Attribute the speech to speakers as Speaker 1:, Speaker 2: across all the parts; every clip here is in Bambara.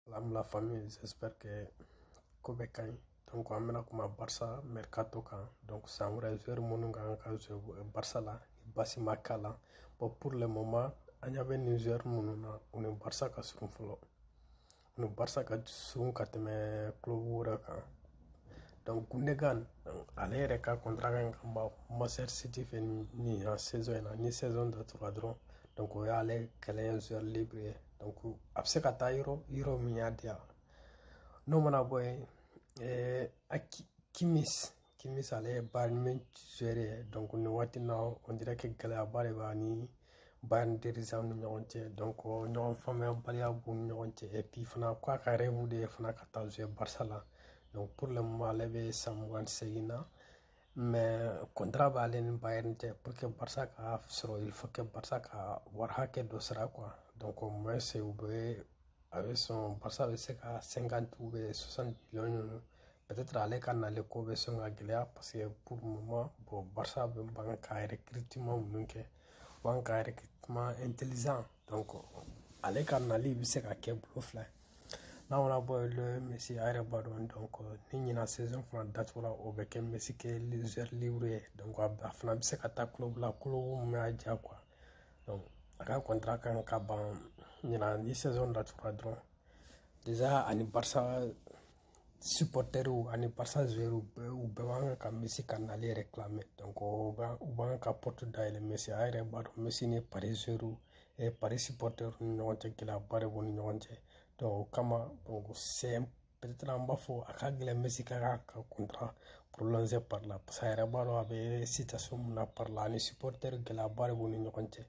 Speaker 1: Salam la famille, j'espère que ko bɛɛ ka ɲi donc an bɛna kuma barisa mercato kan donc san wɛrɛ joueur minnu ka kan ka jouer barisa la baasi ma k'a la bon pour le moment an ɲa bɛ nin joueur minnu na u ni barisa ka surun fɔlɔ u ni barisa ka surun ka tɛmɛ club wɛrɛ kan donc gundogan ale yɛrɛ ka contrat kan ka ban manchester city fɛ nin saison in na ni saison datugura dɔrɔn donc o y'ale kɛlen ye joueur libre ye a bɛ se ka taa yɔrɔ yɔrɔ min y'a diya n'o mana bɔ yen a kimmich kimmich ale ye bayern munich joueur ye nin waati na on dirait que gɛlɛyaba de b'a ni bayern dirigeantw ni ɲɔgɔn cɛ donc ɲɔgɔn faamuyabaliya b'u ni ɲɔgɔn cɛ fana ko a ka rêve de ye fana ka taa jouer barisa la pour le moment ale bɛ san mugan ni seegin na contrat b'ale ni bayern cɛ pour que barisa k'a sɔrɔ il faut que barisa ka wari hakɛ dɔ sara quoi donc au moins c'est u bɛ a bɛ sɔn barisa bɛ se ka cinquante ou bien soixante millions ɲɔgɔn peut-être ale ka nali ko bɛ sɔn ka gɛlɛya parce que pour le moment bon barisa bɛ ban ka recrutement minnu kɛ ban ka recrutement intelligent ale ka nali bɛ se ka kɛ bolo fila ye n'a mana bɔ yen messi a yɛrɛ b'a dɔn donc ni ɲinan saison fana datugura o bɛ kɛ messi kɛ joueur libre ye a fana bɛ se ka taa club la club min y'a diya quoi a ka contrat kan ka ban ɲinan ni saison datugura dɔrɔn déjà ani barisa supporterw ani barisa joueurw bɛɛ u bɛɛ b'an ka messi ka nali réclamer u b'an ka porte dayɛlɛ messi a yɛrɛ b'a dɔn messi ni paris joueurw eh, paris supporterw ni ɲɔgɔn cɛ gɛlɛyaba de b'u ni ɲɔgɔn cɛ o kama c'est peut-être an b'a fɔ a ka gɛlɛn messi ka kan ka contrat prolonger paris la parce que a yɛrɛ b'a dɔn a bɛ situation min na paris la ani supporter gɛlɛyaba de b'u ni ɲɔgɔn cɛ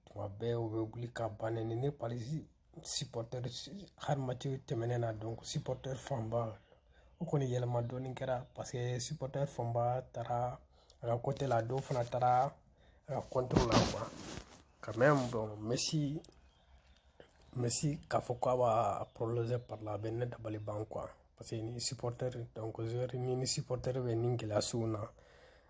Speaker 1: tuma bɛɛ u bɛ wuli k'a ba neni eh paris supporter hali match tɛmɛnen na donc supporter fanba o kɔni yɛlɛma dɔɔni kɛra parce que supporter fanba taara a ka côté la dɔw fana taara a ka contre la quoi quand même bon messi messi k'a fɔ k'a b'a prolonger paris la a bɛ ne dabali ban quoi parce que ni supporter donc joueur ni ni supporter bɛ ni gɛlɛya sugu na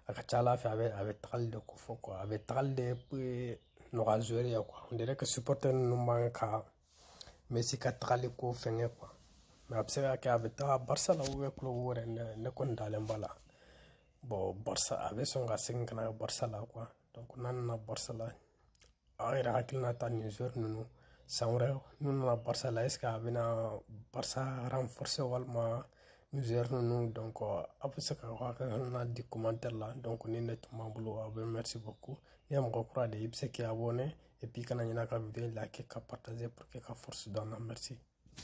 Speaker 1: a ka ca a la en fait a bɛ a bɛ tagali de ko fɔ quoi a bɛ tagali de nɔgɔya joueur ye quoi on dirait que supporter ninnu b'an ka Messi ka tagali ko fɛngɛ quoi mais a bɛ se ka kɛ a bɛ taga Barca la ou bien club wɛrɛ ne ne kɔni dalen b'a la bon Barca a bɛ sɔn ka segin ka na Barca la quoi donc n'a nana Barça la aw yɛrɛ hakilinata nin joueur ninnu san wɛrɛ n'u nana Barça la est-ce que a bɛna Barça renforcer walima nin joueur ninnu donc aw bɛ se ka aw hakilina di commentaire la donc nin de tun b'an bolo aw bɛ merci beaucoup n'i ye mɔgɔ kura de ye i bɛ se k'i abonner et puis kana ɲinɛ ka vidéo liker ka partager pour que ka force don an na merci